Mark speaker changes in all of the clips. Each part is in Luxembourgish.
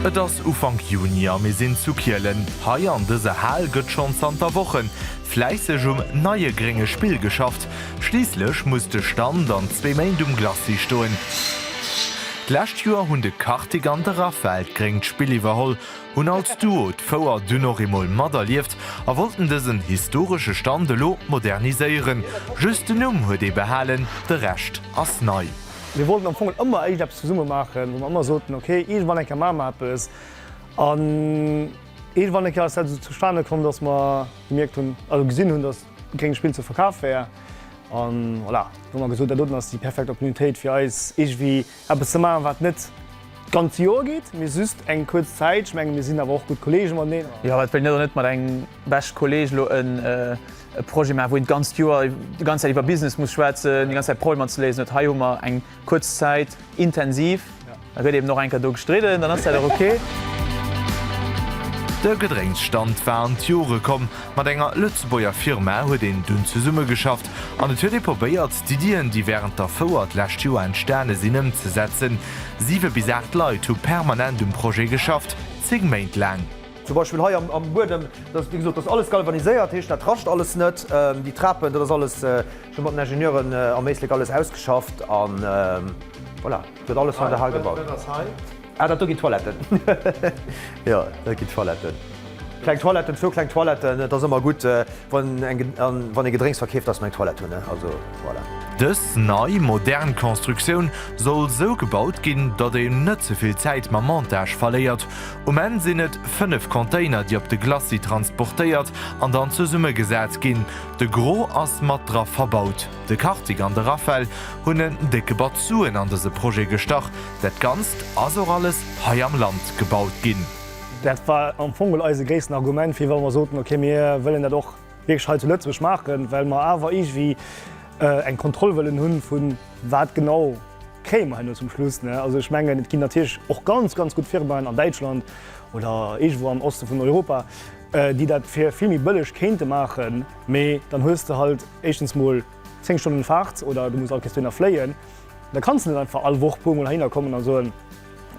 Speaker 1: Et ass Ufank Juni a mir sinn zu Kielen. Hei an dëser Hal gëtt schonn zanter Wochen fläisseg um neie grénge Spill geschafft. Schliisslech muss de Stand an zwee Méint um Glacis stoen. D'lescht Joer hunn de Kartik an de Raphael d'gréngt Spill iwwerholl, hunn als Duo d'Fouer dunn och eemol materlieft a wollten dësen historesche Stand elo moderniséieren. Just den Numm huet ee behalen, de Rescht ass nei. Mir wollten am Fong
Speaker 2: ëmmer éischt eppes zesumme maachen, wou mer ëmmer soten, ok, iergendwann eng Kéier maache mer eppes. An iergendwann eng Kéier ass dat esou zustane komm, dass mer gemierkt hunn, also gesinn hunn, dass. Gréngt Spill ze verkaf wär. An voilà, hu mer gesot, dat doten ass déi perfekt Opportunitéit fir eis iergendwéi eppes ze maachen, wat net d'ganz Joer geet, mee just eng kuerz Zäit. Ech menge mir sinn awer och gutt Kolleege mateneen. Jo, wat wéilt een elo net mat
Speaker 3: engem bescht Kolleeg elo e Projet maachen, wou een d'ganzt Joer, déi ganz Zäit iwwer Business muss schwätzen, déi ganz Zäit Problemer ze léisen huet. Hei hu mer eng. Kuerz Zäit, intensiv, da gëtt eben och enker do gestridden, dann ass dat och ok.
Speaker 1: De Gedrénksstand war an d'Jore komm, mat enger Lëtzebuerger Firma huet een dunn zesummegeschafft an et huet ee probéiert, d'Iddien, déi wärend der Fouer d'lescht Joer entstane sinn, ëmzesetzen. Siwe bis aacht Leit hu permanent um Projet geschafft, zéng Méint laang. Zum Beispill hei
Speaker 4: am Buedem, dat ass, wéi gesot, dat ass alles galvaniséiert, heescht dat rascht alles net. Déi Trapen, dat ass alles. Ech hu mat den Ingenieuren am Éislek alles ausgeschafft a voilà, et gëtt alles hei daheim gebaut. Wat ass hei? Ah, dat do ginn d'Toiletten. Jo, dat ginn d'Toiletten. Kleng Toiletten, zwou kleng Toiletten. Et ass ëmmer gutt, wann ee Gedrénks verkeeft, dass mer eng Toilette hunn. Also voilà. Dës nei,
Speaker 1: modern Constructioun soll sou gebaut ginn, datt een net ze vill Zäit mam Montage verléiert. Um Enn sinn et 5 Container, déi op de Glacis transportéiert an dann zesummegesat ginn. De Gros ass mat dra verbaut. De Kartik an de Raphael hunn en décke Batz Suen an dëse Projet gestach. Dat Ganzt ass och alles hei am Land gebaut ginn. Dat war
Speaker 2: am Fong mol eise gréissten Argument, firwat mer soten, ok, mir wëllen dat och wierklech hei zu Lëtzebuerg maachen, well mer awer iergendwéi eng Kontroll wëllen hunn, vu wat genau kréie mer herno zum Schluss. Also ech mengen, et ginn natierlech och ganz, ganz gutt Firmaen an Däitschland oder iergendwou am Oste vun Europa, déi dat fir vill méi bëlleg kéinte maachen, mee dann hues de halt éischtens mol 10 Stonnen Faart oder du muss all Kéiers dohinner fléien, da kanns de net einfach all Woch puer mol heihinner kommen a soen,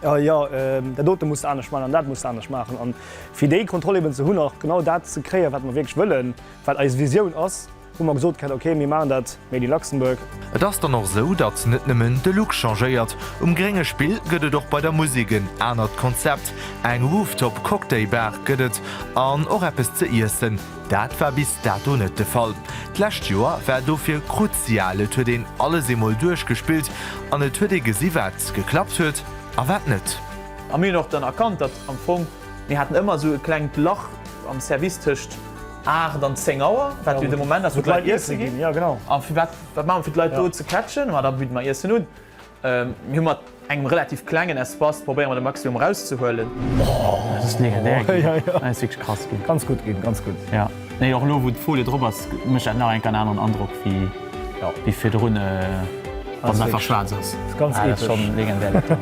Speaker 2: jo dat dote muss de anescht maachen an dat muss de anescht maachen. An fir déi Kontroll eben ze hunn a genau dat ze kréien, wat mer wierklech wëllen, wat eis Visioun ass, Hu mer gesot ghat, ok, mir machen dat made in Luxembourg. Et ass dann och sou,
Speaker 1: datt net nëmmen de Look changéiert. Um grénge Spill gëtt et och bei der Musek en anert Konzept. Eng Rooftop Cocktail Bar gëtt et an och eppes ze iessen. Dat war bis dato net de Fall. D'lescht Joer war dofir kruzial, et huet een alles eemol duerchgespillt an et huet ee gesi wat geklappt huet a wat net. A mir hunn och dann
Speaker 3: erkannt, datt am Fong Mir haten ëmmer esou e klengt Lach am Service tëscht 8 an 10 Auer, wat jo de Moment ass, wou d'Leit iesse ginn. A firwat,
Speaker 2: wat maache mer, fir
Speaker 3: d'Leit do ze catchen? Ma da bidde mer Iessen un. Mir hu mat engem relativ klengen Espace probéiere mer de Maximum erauszehuelen.
Speaker 2: Nee och lo wou
Speaker 5: d'Folie drop ass mécht dat nach eng Kéier en aneren Androck wéi virdrun wann se einfach schwaarz ass. Ah dat ass schonn
Speaker 2: legendär
Speaker 5: dat
Speaker 1: do.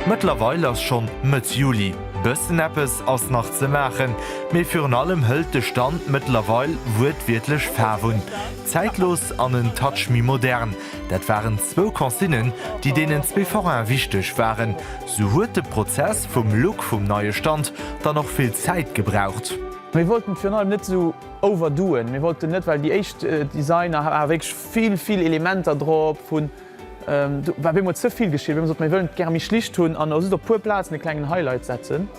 Speaker 1: Mëttlerweil ass schonn Mëtt Juli. Bëssen eppes ass nach ze maachen, mee virun allem hëlt de Stand mëttlerweil wuertwiertlech Faarf un. Zäitlos an en Touch méi modern, dat waren zwou Consignen, déi deenen zwee Foraine wichteg waren. Sou huet de Prozess vum Look vum neie Stand dann och vill Zäit gebraucht. Mir wollten et virun
Speaker 3: allem net sou overdoen. Mir wollten net, well déi éischt Designer hate wierklech vill, vill Elementer drop, vun, do war op eemol ze vill geschitt. Mir hu gesot, mir wëllen et gäre méi schlicht hunn an just op e puer Plazen e klengen Highlight setzen.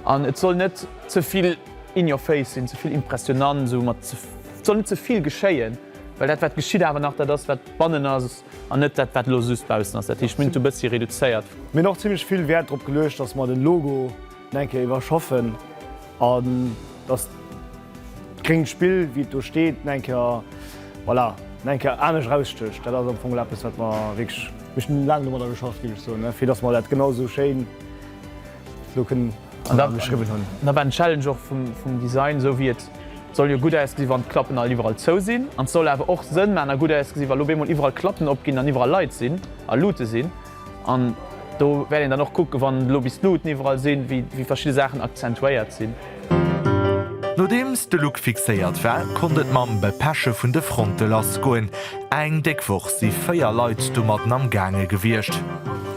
Speaker 3: An et soll net ze vill in your face sinn, ze vill impressionnant, sou mat, et soll net ze vill geschéien, well dat wat geschitt awer nach dat ass wat bannen ass. An net dat wat elo just baussen ass. Dat heescht mir hunn et e bëssi reduzéiert. Mir hunn och zimmlech vill
Speaker 2: Wäert drop geluecht, datt mer den Logo nach eng Kéier iwwerschaffen an datt d'gréngt Spill wéi et do steet nach eng Kéier, voilà, nach eng Kéier anescht erausstécht. Dat ass am Fong eppes wat mer wierklech, mir hunn laang domadder geschafft ginn ech soen, fir datt mer dat genau esou schéin elo kënnen. an dann geschriwwen hunn. Da war den Challenge
Speaker 3: och vum Design esou wéi et soll jo gutt ausgesi wann d'Klappen all iwwerall zou sinn an et soll awer och Sënn maachen a gutt ausgesi wa lo op eemol iwwerall Klappen op ginn an iwwerall Leit sinn a Luute sinn. An do wäert een dann och kucken, wann elo bis d'Luuten iwwerall sinn, wéi verschidde Saachen akzentuéiert sinn. Nodeems
Speaker 1: de Look fixéiert war, konnt et mam Bepeche vun de Fronte lass goen. Eng déck Woch si 4 Leit domatten am Gaange gewiescht.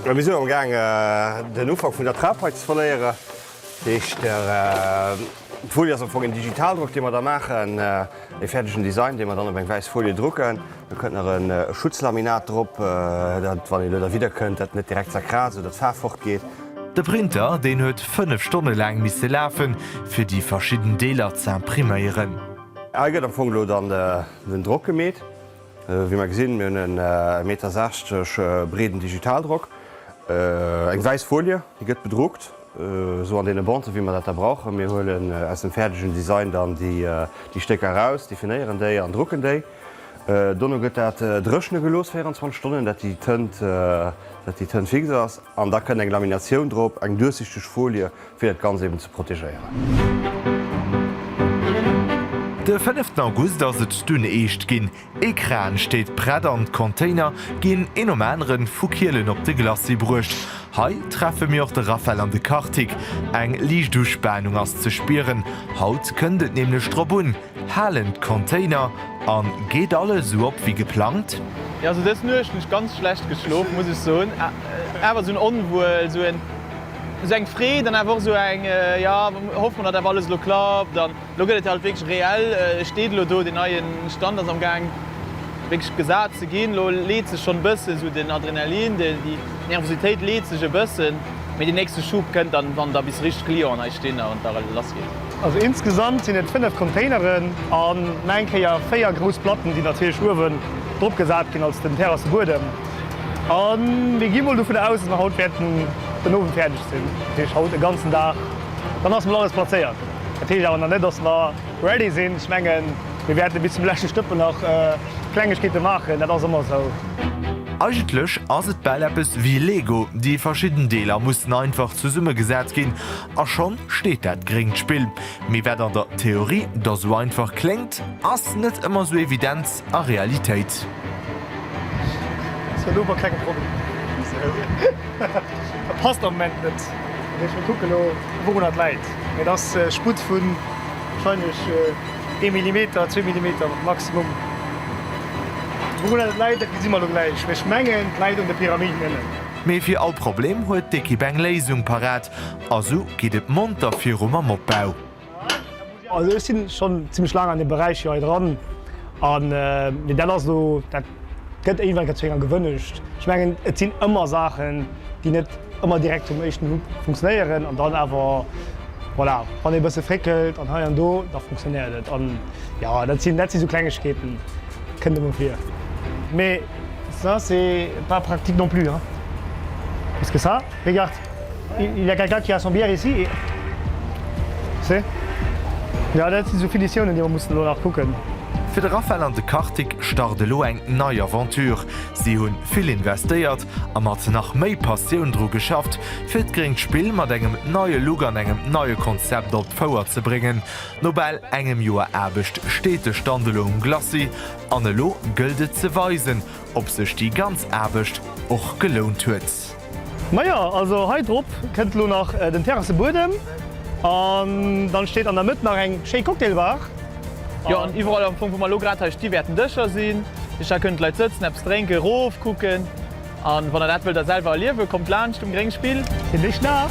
Speaker 1: Mir sinn am
Speaker 6: Gaang den Ufank vun der Trapei ze verléieren. Dat heescht, d'Folie ass am Fong een Digitaldrock, dee mer da maachen, ee fäerdegen Design, dee mer dann op eng wäiss Folie drucken. Do kënnt nach e Schutzlaminat drop, datt, wann ee lo derwidder kënnt, dat net direkt zerkraasst oder d'Faarf fortgeet. De Printer,
Speaker 1: deen huet 5 Stonne laang misse lafen, fir déi verschidden Deeler ze impriméieren. Hei gëtt am
Speaker 6: Fong elo dann Mir hunn Drock gemeet, wéi mer gesinn. Mir hunn en e Meter 60 breeden Digitaldrock, eng wäiss Folie, déi gëtt bedruckt, esou an deene Bonte wéi mer dat da brauchen. Mir huelen aus dem fäerdegen Design dann déi Stécker eraus, definéieren déi an drucken déi. Dono gëtt dat dréchne gelooss 24 Stonnen, dat déi Tënt fix ass. An da kënnt eng Laminatioun drop, eng duerchsichteg Folie, fir dat Ganzt eben ze protegéieren.
Speaker 1: De fënneften August ass et dunn eescht ginn. Ee Kran steet prett an d'Container ginn een nom aneren vu Kielen op de Glacis bruecht. Hei treffe mir och de Raphaël an de Kartik. Eng liicht Uspanung ass ze spieren, haut kënnt et nämlech drop un, Halen d'Container an geet alles esou op wéi geplangt? Jo, also dës Nuecht
Speaker 3: hunn ech ganz schlecht geschlof muss ech soen, awer esou en Onwuel, esou en. Esou eng Freed an awer och esou eng, jo, hoffe mer, datt awer alles elo klappt. An elo gëtt et halt wierklech reell. E steet elo do, deen neien Stand ass am Gaang wierklech gesat ze ginn. Elo leet sech schonn e bëssen esou den Adrenalin, déi Nervositéit leet sech e bëssen, mee den nächste Schub kënnt dann, wann da bis richteg Clienten hei stinn a wann da lass geet. Also insgesamt
Speaker 2: sinn et fënnef Containeren an nach eng Kéier véier grouss Platten, déi natierlech uewen drop gesat ginn als den Terrassebuedem. A mir gi mol dovun aus, dass mer haut wäerten den Owend fäerdeg sinn, dat heescht haut e ganzen Dag. Dann ass mol alles plazéiert. Dat heescht awer nach net, dass mer ready sinn. Ech mengen, mir wäerte bis zum leschte Stëppel nach Klengegkeete maachen. Dat ass ëmmer esou. Eigentlech
Speaker 1: ass et bal eppes wéi Lego, déi verschidden Deeler mussen einfach zesummegesat ginn a schonn steet dat gréngt Spill. Mee wat an der Theorie da sou einfach kléngt, ass net ëmmer sou evident. a
Speaker 2: Realitéit. Mee fir all
Speaker 1: Problem huet d'Ekipp eng Léisung parat a sou geet et monter viru mam Opbau. Also
Speaker 2: ech sinn schonn zimlech laang an deem Beräich hei dran an mee dat ass elo, dat gëtt éiwwer eng Kéier zu enger Gewënnecht. Ech mengen et sinn ëmmer Saachen déi net ëmmer direkt vum éischten Nupp funktionéieren an dann awer voilà wann ee e bësse fréckelt an hei an do da funktionéiert et an jo dat sinn dat si sou Klengegkeeten, kënnt emol vir. Mais ça c'est pas pratique non plus hein, parce que ça regarde. Il y a quelqu'un qui a son bière ici? Merci. Jo, dat sinn sou Finitiounen, déi mer mussen elo nach kucken. Fir de Raphael
Speaker 1: an de Kartik start elo eng nei Aventure. Si hunn vill investéiert a mat nach méi Passioun dru geschafft, fir d'gréngt Spill mat engem neie Look an engem neie Konzept op d'Fouer ze bréngen. No bal engem Joer Aarbecht steet de Stand elo um Glacis an elo gëllt et ze weisen, ob sech déi ganz Aarbecht och gelount huet. Majo,
Speaker 2: also hei drop kënnt elo nach den Terrassebuedem an dann steet an der Mëtt nach eng schéi Cocktailbar. Jo, an
Speaker 3: iwwerall am Fong wou mer elo grad hei sti wäerten Dëscher sinn, duerch dat kënnen d'Leit sëtzen, eppes drénken, erof kucken an wann der dat wëllt der selwer
Speaker 2: erliewen,
Speaker 3: kommt laanscht um Gréngspill. Fir dech nach.